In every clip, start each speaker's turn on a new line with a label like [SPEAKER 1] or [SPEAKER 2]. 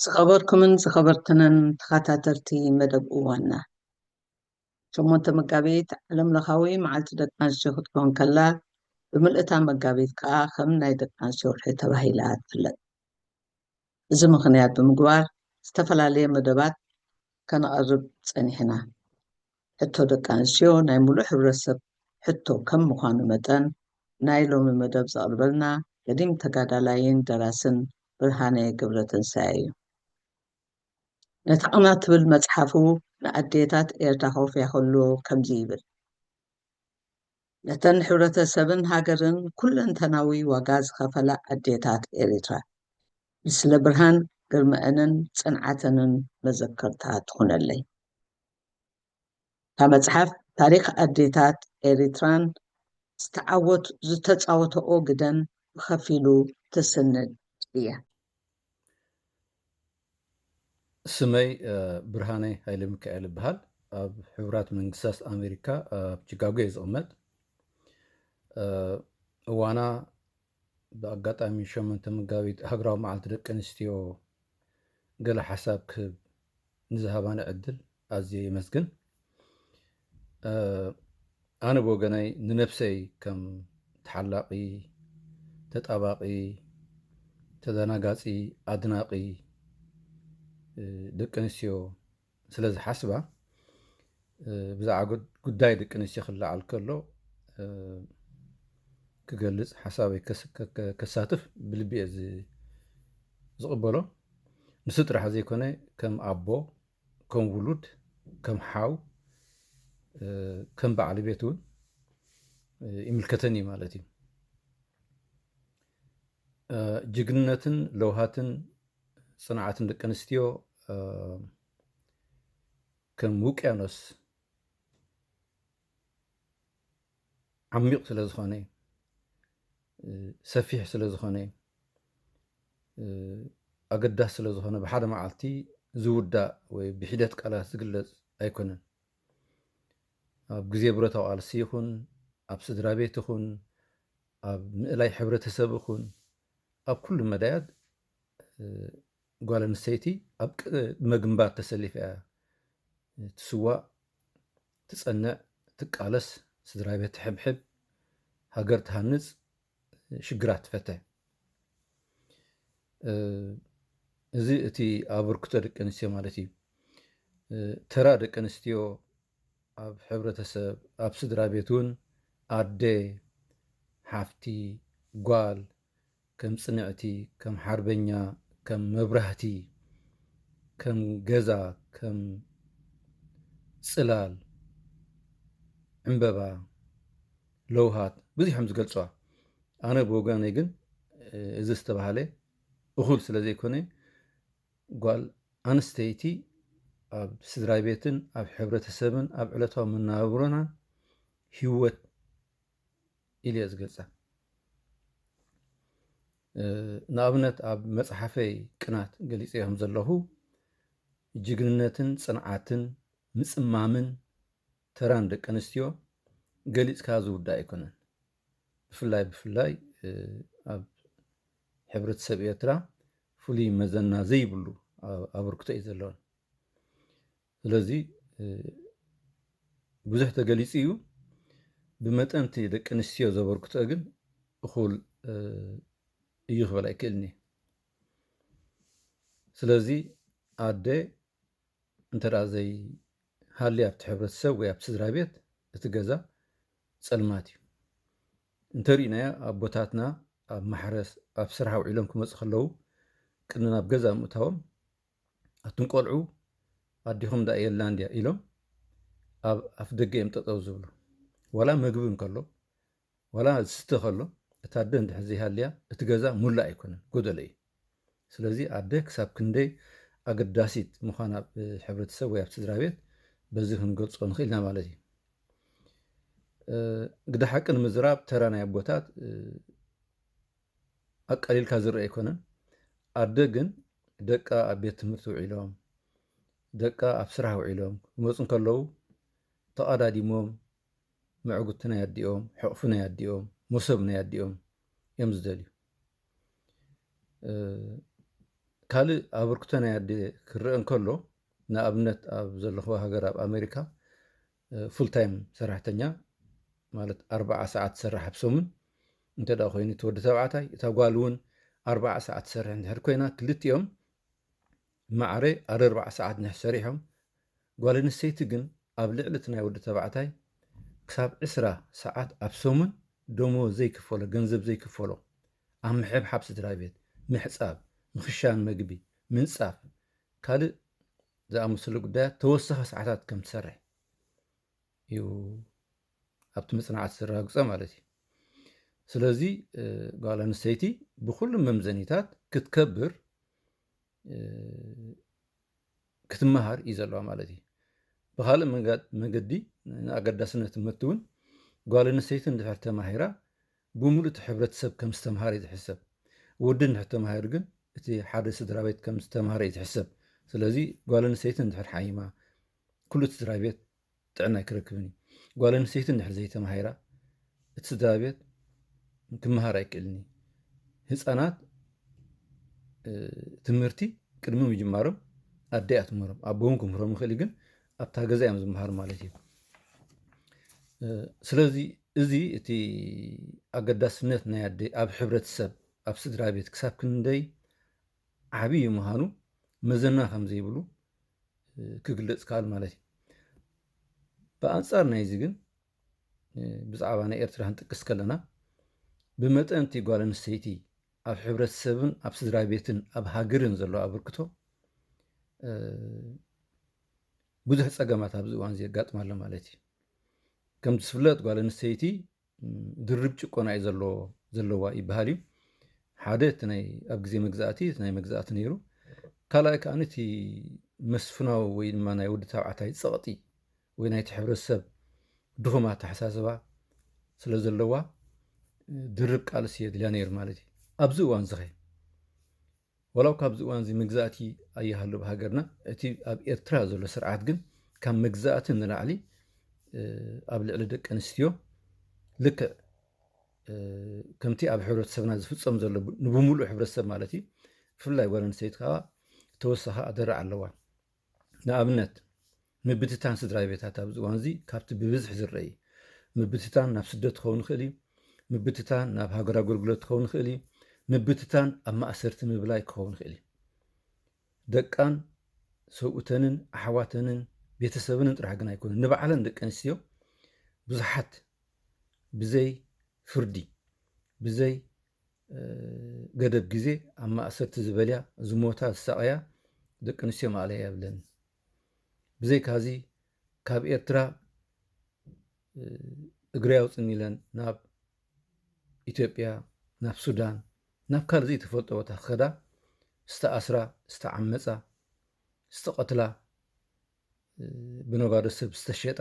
[SPEAKER 1] ዝኸበርኩምን ዝኸበርክንን ተኸታተልቲ መደብ እዋንና ሸሞንተ መጋቢት ዓለም ለኻዊ መዓልቲ ደቂ ኣንስትዮ ክትከውን ከላ ብምልእታ መጋቢት ከዓ ከም ናይ ደቂ ኣንስትዮ ወርሒ ተባሂላ ትፍለጥ። እዚ ምኽንያት ብምግባር ዝተፈላለየ መደባት ከነቐርብ ጸኒሕና። ሕቶ ደቂ ኣንስትዮ ናይ ሙሉእ ሕብረተሰብ ሕቶ ከም ምዃኑ መጠን ናይ ሎሚ መደብ ዘቕርበልና ገዲም ተጋዳላይን ደራስን ብርሃነ ገብረትንሳኤ እዩ። ነታ ቅናት ትብል መጽሓፉ ንኣዴታት ኤርትራ ከውፍያ ከሎ ከምዚ ይብል። ነተን ሕብረተሰብን ሃገርን ኩለንተናዊ ዋጋ ዝኸፈላ ኣዴታት ኤሪትራ ንስለ ብርሃን ግርመኤንን ጽንዓተንን መዘከርታ ትኹነለይ። እታ መጽሓፍ ታሪኽ ኣዴታት ኤሪትራን ዝተዓወት ዝተጻወተኦ ግደን ብኸፊሉ ትስንድ እያ።
[SPEAKER 2] ስመይ ብርሃነ ሃይለ ሚካኤል እብሃል ኣብ ሕቡራት መንግስታት ኣሜሪካ ኣብ ቺካጎ እየ ዝቕመጥ እዋና ብኣጋጣሚ ሸሞንተ መጋቢት ሃገራዊ መዓልቲ ደቂ ኣንስትዮ ገለ ሓሳብ ክህብ ንዝሃባኒ ዕድል ኣዝየ የመስግን። ኣነ ብወገነይ ንነብሰይ ከም ተሓላቒ፣ ተጣባቒ፣ ተደናጋጺ፣ ኣድናቒ ደቂ ኣንስትዮ ስለ ዝሓስባ ብዛዕባ ጉዳይ ደቂ ኣንስትዮ ክለዓል ከሎ ክገልፅ ሓሳበይ ከሳትፍ ብልቢ እየ ዝቕበሎ ንሱ ጥራሕ ዘይኮነ ከም ኣቦ ከም ውሉድ ከም ሓው ከም በዓል ቤት እውን ይምልከተን እዩ ማለት እዩ ጅግንነትን ለውሃትን ፅንዓትን ደቂ ኣንስትዮ ከም ውቅያኖስ ዓሚቕ ስለ ዝኾነ ሰፊሕ ስለ ዝኾነ ኣገዳሲ ስለ ዝኾነ ብሓደ መዓልቲ ዝውዳእ ወይ ብሒደት ቃላት ዝግለፅ ኣይኮነን። ኣብ ግዜ ብረታዊ ቃልሲ ይኹን ኣብ ስድራ ቤት ይኹን ኣብ ምእላይ ሕብረተሰብ ይኹን ኣብ ኩሉ መዳያት ጓል ኣንስተይቲ ኣብ ቅድመ ግንባር ተሰሊፋ እያ ትስዋእ፣ ትጸንዕ፣ ትቃለስ፣ ስድራቤት ትሕብሕብ፣ ሃገር ትሃንጽ፣ ሽግራት ትፈተ። እዚ እቲ ኣበርክቶ ደቂ ኣንስትዮ ማለት እዩ። ተራ ደቂ ኣንስትዮ ኣብ ሕብረተሰብ፣ ኣብ ስድራ ቤት እውን ኣደ፣ ሓፍቲ፣ ጓል፣ ከም ጽንዕቲ ከም ሓርበኛ ከም መብራህቲ ከም ገዛ ከም ጽላል ዕምበባ ለውሃት ብዙሕም ዝገልጽዋ ኣነ ብወገነይ ግን እዚ ዝተባሃለ እኹል ስለ ዘይኮነ ጓል ኣንስተይቲ ኣብ ስድራ ቤትን ኣብ ሕብረተሰብን ኣብ ዕለታዊ መነባብሮናን ህይወት ኢለ እየ ዝገልፃ። ንኣብነት ኣብ መፅሓፈይ ቅናት ገሊፀዮ ከም ዘለኹ ጅግንነትን ፅንዓትን ምፅማምን ተራን ደቂ ኣንስትዮ ገሊፅካ ዝውዳእ ኣይኮነን። ብፍላይ ብፍላይ ኣብ ሕብረተሰብ ኤርትራ ፍሉይ መዘና ዘይብሉ ኣበርክቶ እዩ ዘለወን። ስለዚ ብዙሕ ተገሊፁ እዩ። ብመጠን እቲ ደቂ ኣንስትዮ ዘበርክትኦ ግን እኹል እዩ ክበል ኣይክእልን እየ። ስለዚ ኣደ እንተደኣ ዘይሃልያ ኣብቲ ሕብረተሰብ ወይ ኣብቲ ስድራ ቤት እቲ ገዛ ፀልማት እዩ። እንተሪእናዮ ኣቦታትና ኣብ ማሕረስ ኣብ ስራሕ ውዒሎም ክመፁ ከለዉ ቅድሚ ናብ ገዛ ምእታዎም ኣቱም ቆልዑ ኣዴኹም ድኣ የላን ድያ ኢሎም ኣብ ኣፍ ደገ እዮም ጠጠው ዝብሉ። ዋላ መግቢ እንከሎ ዋላ ዝስተ ከሎ እታ ኣደ እንድሕር ዘይሃልያ እቲ ገዛ ሙላእ ኣይኮነን ጎደሎ እዩ። ስለዚ ኣደ ክሳብ ክንደይ ኣገዳሲት ምዃና ኣብ ሕብረተሰብ ወይ ኣብ ስድራ ቤት በዚ ክንገልጾ ንኽእል ኢና ማለት እዩ። ግዳ ሓቂ ንምዝራብ ተራ ናይ ኣቦታት ኣቃሊልካ ዝርኣ ኣይኮነን። ኣደ ግን ደቃ ኣብ ቤት ትምህርቲ ውዒሎም፣ ደቃ ኣብ ስራሕ ውዒሎም ክመጹ እንከለዉ ተቓዳዲሞም መዕጉቲ ናይ ኣዲኦም፣ ሕቕፊ ናይ ኣዲኦም፣ ሞሶብ ናይ ኣዲኦም እዮም ዝደልዩ። ካልእ ኣበርክቶ ናይ ኣደ ክረኣ እንከሎ ንኣብነት ኣብ ዘለኹዋ ሃገር ኣብ ኣሜሪካ ፉል ታይም ሰራሕተኛ ማለት ኣርብዓ ሰዓት ትሰርሕ ኣብ ሰሙን እንተ ኮይኑ እቲ ወዲ ተባዕታይ እታ ጓል እውን ኣርብዓ ሰዓት ትሰርሕ እንድሕር ኮይና ክልቲኦም ማዕረ ኣርርባዕ ሰዓት እንድሕር ሰሪሖም ጓል ኣንስተይቲ ግን ኣብ ልዕሊ እቲ ናይ ወዲ ተባዕታይ ክሳብ ዕስራ ሰዓት ኣብ ሰሙን ደመወዝ ዘይክፈሎ ገንዘብ ዘይክፈሎ ኣብ ምሕብሓብ ስድራ ቤት ምሕፃብ ምኽሻን መግቢ ምንፃፍ ካልእ ዝኣመሰሉ ጉዳያት ተወሳኺ ሰዓታት ከም ትሰርሕ እዩ ኣብቲ መፅናዕቲ ዘረጋግፀ ማለት እዩ። ስለዚ ጓል ኣንስተይቲ ብኩሉ መምዘኒታት ክትከብር ክትመሃር እዩ ዘለዋ ማለት እዩ። ብካልእ መገዲ ንኣገዳስነት ትምህርቲ እውን ጓል ኣንስተይቲ እንድሕር ተማሂራ ብምሉእ እቲ ሕብረተሰብ ከም ዝተምሃረ እዩ ዝሕሰብ። ወዲ እንድሕር ተማሂሩ ግን እቲ ሓደ ስድራቤት ከም ዝተምሃረ እዩ ዝሕሰብ። ስለዚ ጓል ኣንስተይቲ እንድሕር ሓሚማ ኩሉ እቲ ስድራቤት ጥዕና ኣይክረክብን እዩ። ጓል ኣንስተይቲ እንድሕር ዘይተማሂራ እቲ ስድራቤት ክመሃር ኣይክእልን እዩ። ህፃናት ትምህርቲ ቅድሚ ምጅማሮም ኣደ እያ ትምህሮም፣ ኣቦ እውን ክምህሮም ይኽእል እዩ ግን ኣብታ ገዛ እዮም ዝመሃሩ ማለት እዩ። ስለዚ እዚ እቲ ኣገዳስነት ናይ ኣደ ኣብ ሕብረተሰብ ኣብ ስድራ ቤት ክሳብ ክንደይ ዓብዪ እዩ ምዃኑ መዘና ከም ዘይብሉ ክግለፅ ካል ማለት እዩ። ብኣንፃር ናይዚ ግን ብዛዕባ ናይ ኤርትራ ክንጥቅስ ከለና ብመጠን እቲ ጓል ኣንስተይቲ ኣብ ሕብረተሰብን ኣብ ስድራቤትን ኣብ ሃገርን ዘሎ ኣበርክቶ ብዙሕ ፀገማት ኣብዚ እዋን እዚ የጋጥማ ኣሎ ማለት እዩ። ከምቲ ዝፍለጥ ጓል ኣንስተይቲ ድርብ ጭቆና እዩ ዘለዋ ይበሃል እዩ። ሓደ እቲ ናይ ኣብ ግዜ መግዛእቲ እቲ ናይ መግዛእቲ ነይሩ ካልኣይ ከዓ እቲ መስፍናዊ ወይ ድማ ናይ ወዲ ተባዕታይ ፀቕጢ ወይ ናይቲ ሕብረተሰብ ድኹም ኣተሓሳስባ ስለ ዘለዋ ድርብ ቃልሲ የድልያ ነይሩ ማለት እዩ። ኣብዚ እዋንዚኸ? ዋላ እኳ ኣብዚ እዋንዚ መግዛእቲ ኣይሃሉ ኣብ ሃገርና፣ እቲ ኣብ ኤርትራ ዘሎ ስርዓት ግን ካብ መግዛእቲ ንላዕሊ ኣብ ልዕሊ ደቂ ኣንስትዮ ልክዕ ከምቲ ኣብ ሕብረተሰብና ዝፍፀም ዘሎ ንብምሉእ ሕብረተሰብ ማለት እዩ ብፍላይ ጓል ኣንስተይቲ ከዓ ተወሳኺ ኣደራዕ ኣለዋ ንኣብነት ምብትታን ስድራቤታት ኣብዚ እዋንዚ ካብቲ ብብዝሒ ዝረኢ ምብትታን ናብ ስደት ክኸውን ይኽእል እዩ፣ ምብትታን ናብ ሃገር ኣገልግሎት ክኸውን ይኽእል እዩ፣ ምብትታን ኣብ ማእሰርቲ ምብላይ ክኸውን ይኽእል እዩ። ደቃን ሰብኡተንን ኣሕዋተንን ቤተሰብንን ጥራሕ ግን ኣይኮነን ንባዕለን ደቂ ኣንስትዮ ብዙሓት ብዘይ ፍርዲ ብዘይ ገደብ ግዜ ኣብ ማእሰርቲ ዝበልያ፣ ዝሞታ፣ ዝሳቐያ ደቂ ኣንስትዮ ማእለያ የብለን። ብዘይካዚ ካብ ኤርትራ እግረይ ኣውጽኒ ኢለን ናብ ኢትዮጵያ፣ ናብ ሱዳን፣ ናብ ካልእ ዘይተፈልጦ ቦታ ክኸዳ ዝተኣስራ፣ ዝተዓመጻ፣ ዝተቐትላ፣ ብነጋዶ ሰብ ዝተሸጣ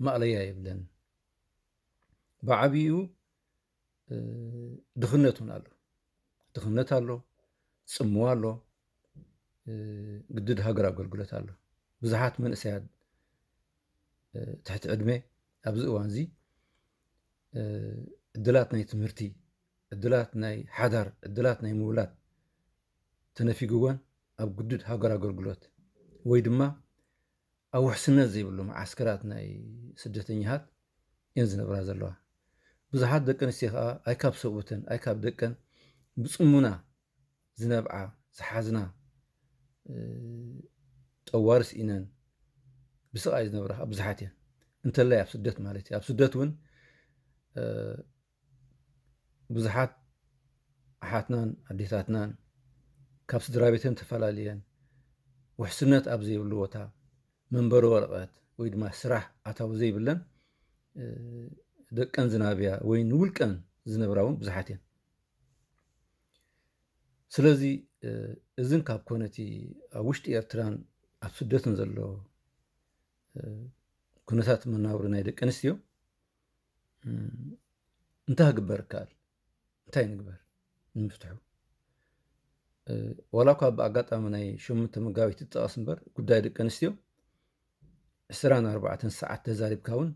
[SPEAKER 2] ማእለያ የብለን። ብዓብይኡ ድኽነት እውን ኣሎ፣ ድኽነት ኣሎ፣ ፅምዋ ኣሎ፣ ግድድ ሃገር ኣገልግሎት ኣሎ። ብዙሓት መንእሰያት ትሕቲ ዕድመ ኣብዚ እዋን እዚ ዕድላት ናይ ትምህርቲ፣ ዕድላት ናይ ሓዳር፣ ዕድላት ናይ ምውላድ ተነፊግወን ኣብ ግዱድ ሃገር ኣገልግሎት ወይ ድማ ኣብ ውሕስነት ዘይብሉ መዓስከራት ናይ ስደተኛታት እየን ዝነብራ ዘለዋ። ብዙሓት ደቂ ኣንስትዮ ከኣ ኣይ ካብ ሰብኡተን ኣይ ካብ ደቀን ብጽሙና ዝነብዓ ዝሓዝና ጠዋሪ ስኢነን ብስቓይ ዝነብራ ከኣ ብዙሓት እየን። እንተላይ ኣብ ስደት ማለት እዩ። ኣብ ስደት እውን ብዙሓት ኣሓትናን ኣዴታትናን ካብ ስድራ ቤተን ተፈላልየን ውሕስነት ኣብ ዘይብሉ ቦታ መንበሪ ወረቐት ወይ ድማ ስራሕ ኣታዊ ዘይብለን ደቀን ዝናብያ ወይ ንውልቀን ዝነብራ እውን ብዙሓት እየን ስለዚ እዝን ካብ ኮነቲ ኣብ ውሽጢ ኤርትራን ኣብ ስደትን ዘሎ ኩነታት መናብሪ ናይ ደቂ ኣንስትዮ እንታይ ክግበር ይከኣል? እንታይ ንግበር ንምፍትሑ? ዋላ እኳ ብኣጋጣሚ ናይ ሸሞንተ መጋቢት ይጠቐስ እምበር ጉዳይ ደቂ ኣንስትዮ ዕስራን ኣርባዕተን ሰዓት ተዛሪብካ እውን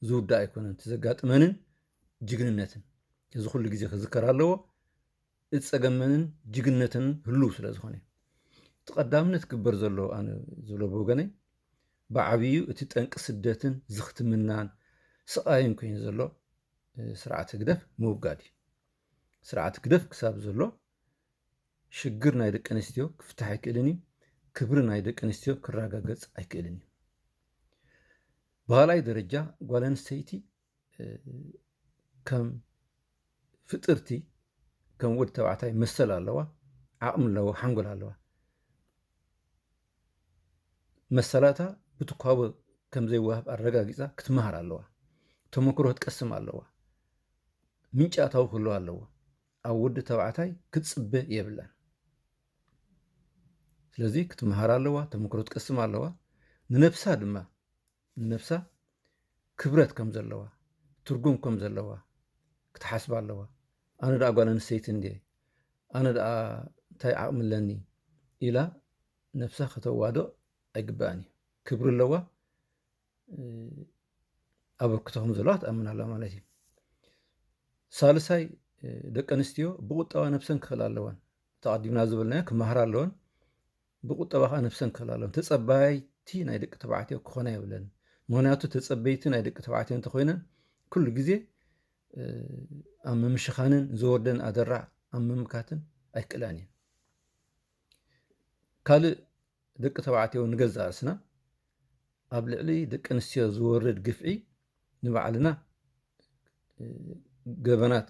[SPEAKER 2] ዝውዳእ ኣይኮነን። እቲ ዘጋጥመንን ጅግንነትን እዚ ኩሉ ግዜ ክዝከር ኣለዎ። እቲ ጸገምንን ጅግነተንን ህሉው ስለ ዝኾነ እዩ። እቲ ቀዳምነት ክግበር ዘለዎ ኣነ ዝብሎ ብወገነይ ብዓብዩ እቲ ጠንቂ ስደትን ዝኽትምናን ስቓይን ኮይኑ ዘሎ ስርዓት ህግደፍ ምውጋድ እዩ። ስርዓት ህግደፍ ክሳብ ዘሎ ሽግር ናይ ደቂ ኣንስትዮ ክፍታሕ ኣይክእልን እዩ። ክብሪ ናይ ደቂ ኣንስትዮ ክረጋገጽ ኣይክእልን እዩ። ብኻልኣይ ደረጃ ጓል ኣንስተይቲ ከም ፍጥርቲ ከም ወዲ ተባዕታይ መሰል ኣለዋ፣ ዓቕሚ ኣለዋ፣ ሓንጎል ኣለዋ። መሰላታ ብትኳቦ ከም ዘይወሃብ ኣረጋጊፃ ክትመሃር ኣለዋ። ተመክሮ ክትቀስም ኣለዋ። ምንጪ ኣታዊ ክህልዋ ኣለዎ። ኣብ ወዲ ተባዕታይ ክትፅበ የብላን። ስለዚ ክትመሃር ኣለዋ፣ ተመክሮ ክትቀስም ኣለዋ። ንነብሳ ድማ ንነብሳ ክብረት ከም ዘለዋ ትርጉም ከም ዘለዋ ክትሓስባ ኣለዋ ኣነ ደኣ ጓል ኣንስተይቲ እንድየ ኣነ ደኣ እንታይ ዓቕሚ ኣለኒ ኢላ ነብሳ ከተዋዶ ኣይግባእን እዩ ክብሪ ኣለዋ ኣበርክቶ ከም ዘለዋ ትኣምን ኣላ ማለት እዩ ሳልሳይ ደቂ ኣንስትዮ ብቁጠባ ነብሰን ክኽእላ ኣለወን ተቐዲምና ዝበልናዮ ክመሃራ ኣለወን ብቁጠባ ከኣ ነብሰን ክህላለን ተጸባይቲ ናይ ደቂ ተባዕትዮ ክኾና የብለን ምክንያቱ ተጸበይቲ ናይ ደቂ ተባዕትዮ እንተኾይነን ኩሉ ግዜ ኣብ ምምሽኻንን ዝወርደን ኣደራዕ ኣብ ምምካትን ኣይክእላን እየን ካልእ ደቂ ተባዕትዮ ንገዛ ርእስና ኣብ ልዕሊ ደቂ ኣንስትዮ ዝወርድ ግፍዒ ንባዕልና ገበናት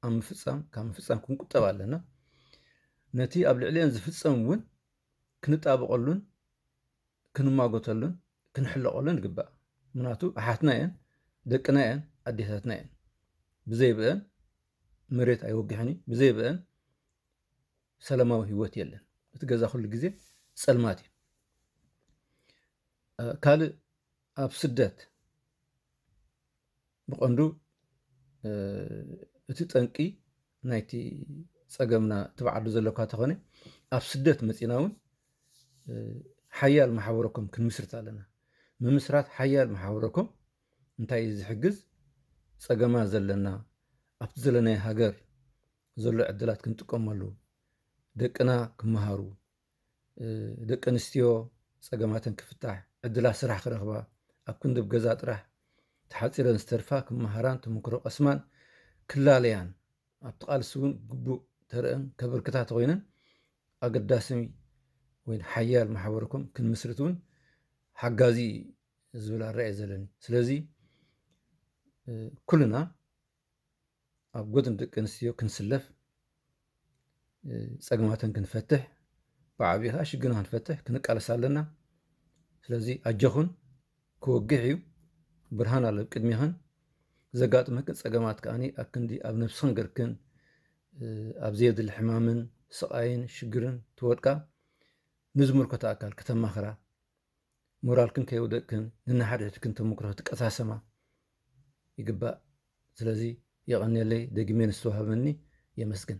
[SPEAKER 2] ኣብ ምፍፃም ካብ ምፍፃም ክንቁጠብ ኣለና ነቲ ኣብ ልዕሊአን ዝፍፀም እውን ክንጣበቐሉን ክንማጎተሉን ክንሕለቐሉን ይግባእ ምክንያቱ ኣሓትና እየን ደቅና እየን ኣዴታትና እየን ብዘይብአን መሬት ኣይወግሕን እዩ ብዘይብአን ሰላማዊ ህይወት የለን እቲ ገዛ ኩሉ ግዜ ፀልማት እዩ ካልእ ኣብ ስደት ብቐንዱ እቲ ጠንቂ ናይቲ ፀገምና እቲ ብዓዱ ዘለካ ተኾነ ኣብ ስደት መፂና እውን ሓያል ማሕበረኮም ክንምስርት ኣለና። ምምስራት ሓያል ማሕበረኮም እንታይ እዩ ዝሕግዝ? ፀገማ ዘለና ኣብቲ ዘለናዮ ሃገር ዘሎ ዕድላት ክንጥቀመሉ፣ ደቅና ክመሃሩ፣ ደቂ ኣንስትዮ ፀገማተን ክፍታሕ፣ ዕድላት ስራሕ ክረኽባ፣ ኣብ ክንዲ ብ ገዛ ጥራሕ ተሓፂረን ዝተርፋ ክመሃራን ተመክሮ ቀስማን ክላለያን ኣብቲ ቃልሲ እውን ግቡእ ተረኣን ከበርክታ ተኾይነን ኣገዳሲ ወይ ሓያል ማሕበረ ኮም ክንምስርት እውን ሓጋዚ እዩ ዝብል ኣረኣእየ ዘለኒ። ስለዚ ኩልና ኣብ ጎድኒ ደቂ ኣንስትዮ ክንስለፍ ፀግማተን ክንፈትሕ ብዓብዪ ከዓ ሽግና ክንፈትሕ ክንቃለስ ኣለና ስለዚ ኣጆኹን ክወግሕ እዩ ብርሃን ኣሎ ቅድሚኽን ዘጋጥመክን ፀገማት ከዓኒ ኣብ ክንዲ ኣብ ነብስኽን ገርክን ኣብ ዘየድሊ ሕማምን ስቃይን ሽግርን ትወድቃ ንዝምልከቶ ኣካል ከተማኽራ ሞራልክን ከይወደቅክን ንናሓድሕድክን ተሞክሮ ክትቀሳሰማ ይግባእ ስለዚ የቀንየለይ ደጊመ ንዝተዋህበኒ የመስግን።